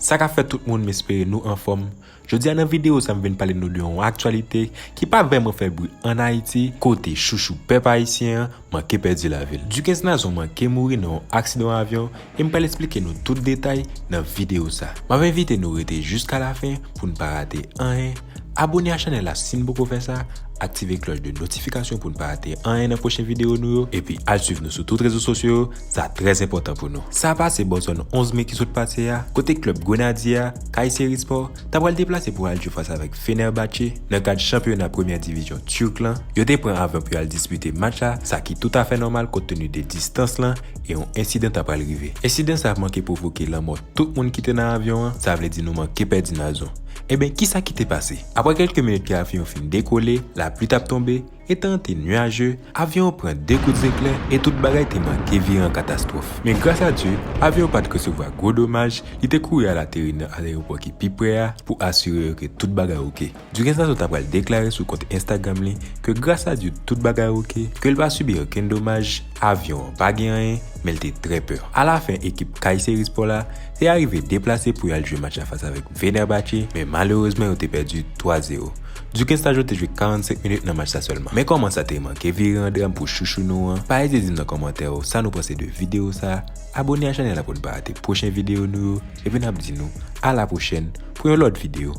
Sa ka fè tout moun m espere nou anfòm, jodi a nan video sa m vin pale nou de yon aktyalite ki pa vèman fè bri an Ayiti kote chouchou pèp ayisyen an manke pèdi lavi l. Dukens Nazon manke mouri nan yon aksidan avyon e m pral esplike nou tout detay nan videyo sa. M ap envite nou rete jiska lafen pou n pa rate anyen, abone a chanèl la si n poko fè sa, aktive klòch de notifikasyon pou n pa rate anyen nan pwochen videyo nou yo epi al swiv nou sou tout rezo sosyo yo, sa trè enpòtan pou nou. Sa pase bò zòn 11 me ki sot pase a, kote klèb Grenadye a, Kayseri Sport, ta pral deplase pou al jwe fas avèk Fenerbahçe nan kad chanpyona premyè divizyon Turk lan, yo te pran avyon pou yo al dispite match la, sa ki toutafè nòmal kont tenu de distans lan e yon ensidan ta pral rive. Ensidan sa manke pwovoke lanmò tout moun ki te nan avyon an, sa vle di nou manke pèdi Nazon. Enben, kisa ki te pase? Aprè kèlke minit ke avyon fin dekole, lapli t ap tonbe, Etan te nuaje, avyon an pran 2 kout zeklè e tout bagay te manke vire an katastwòf. Men gras a Dye, avyon an pa t resevwa gwo domaj, li te kouri al ateri nan alerepò ki pi pre a pou asire yo ke tout bagay ok. Dugan Sason ta pral deklare sou kont Instagram li ke gras a Dye tout bagay ok, ke l pa sibi okenn domaj, avyon an pa gen anyen, men l te trè pè. Alafen ekip Kayseri Sport la te arive deplase pou y al jwe match la fas avèk Venerbatche, men malerezman yo te pèdi 3 zero. Dukens ta jwe te jwe 45 minit nan match sa sèlman. Men kòman sa te manke vire an dram pou chouchou nou an, pa ezite di m nan kòmantè yo sa nou panse de video sa, abone a chanèl la pou n pa rate pwochen video nou yo, epi nap di nou a la pwochèn pou yon lòt video.